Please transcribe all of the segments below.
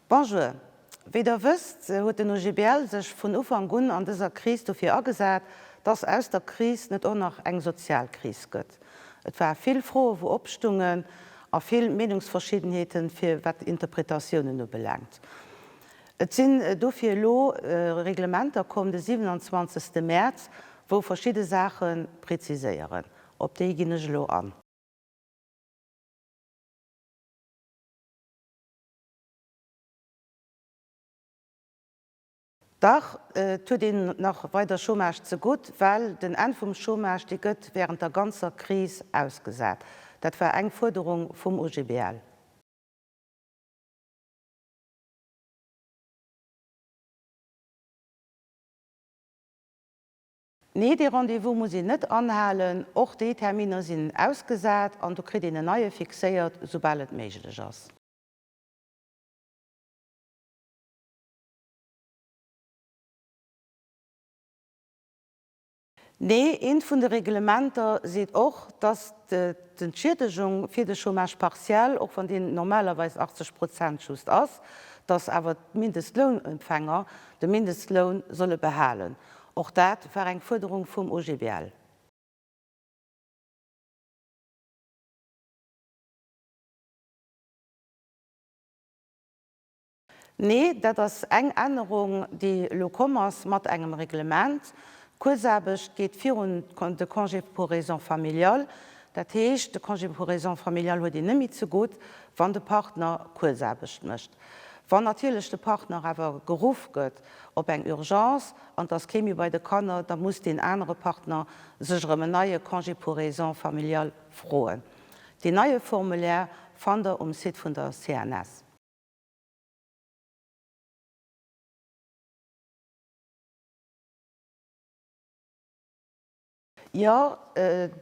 Bonjour. Wéi Der wësst, huet den OGBL sech vun Ufank un an dëser Kris dofir agesat, dass aus der Kris net och nach eng sozial Kris gëtt. Et war vill Froe wou opstungen a vill Meenungsverschiddenheeten, fir wat d'Interpretatiounen ubelaangt. Et sinn dofir elo Reglementer komm de 27. Mäerz, wou verschidde Saache präziséieren. Op déi ginn ech elo an. Dach, et huet een nach weider Chômage zegutt, well den Enn vum Chômage, dee gëtt während der ganzer Kris ausgesat. Dat war eng Fuerderung vum OGBL. Nee, dee Rendez-vous muss een net anhalen. Och déi Terminer sinn ausgesat an do kritt een en neie fixéiert, soubal et méiglech ass. Nee, eent vun de Reglementer seet och, dass d'Entschiedegung fir de Chômage partiel, och wann deen normalerweis 80 Prozent just ass, dass awer d'Mindestlounempfänger de Mindestloun solle behalen. Och dat war eng Fuerderung vum OGBL. Nee, dat ass eng Ännerung, déi elo komm ass mat engem Reglement. D'Kuerzaarbecht geet virun de Congé pour raisons familiales. Dat heescht, de Congé pour raisons familiales huet een net méi zegutt, wann de Partner Kuerzaarbecht mécht. Wann natierlech de Partner awer geruff gëtt op eng Urgence an et ass kee méi bei de Kanner, da muss deen anere Partner sech erëm en neie Congé pour raisons familiales froen. Deen neie Formulaire fannt der um Site vun der CNS. Jo,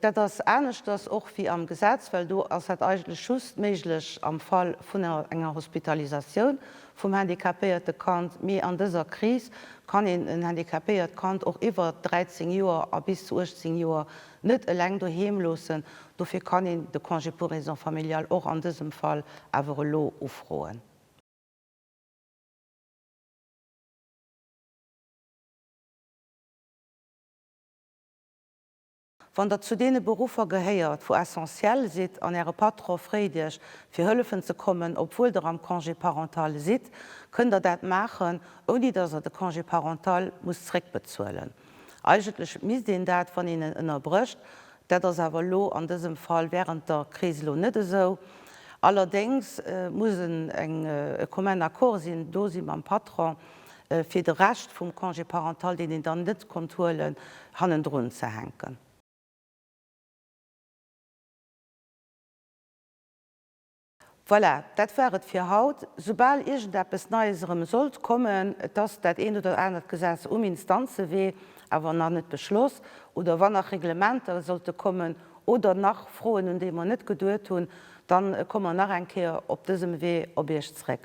dat ass aneschters och wéi am Gesetz, well do ass dat eigentlech just méiglech am Fall vun enger Hospitalisatioun vum handicapéierte Kand. Mee an dëser Kris kann een en handicapéiert Kand och iwwert 13 Joer a bis zu 18 Joer net eleng doheem loossen. Dofir kann een de Congé pour raisons familiales och an dësem Fall awer elo ufroen. Wann der zu deene Beruffer gehéiert, wou essentiell sidd an äre Patron fréet iech, fir hëllefen ze kommen, obwuel der am Congé parental sidd, kënnt der dat maachen, ouni dass der de Congé parental musst zréckbezuelen. Eigentlech misst een dat, wann een en ënnerbrécht, dat ass awer elo an dësem Fall während der Kris elo net esou, allerdéngs muss en eng, e commun accord sinn, do si mam Patron, fir de Rescht vum Congé parental, deen een dann net konnt huelen, hannendrun ze hänken. Voilà, dat war et fir haut. Soubal iergendeppes Neies erëm sollt kommen, et ass dat eent oder anert Gesetz um Instanzewee, awer nach net beschloss, oder wann nach Reglementer sollte kommen oder nach Froen, un déi mer net geduet hunn, dann komme mer nach eng Kéier op dësem Wee op Iech zréck.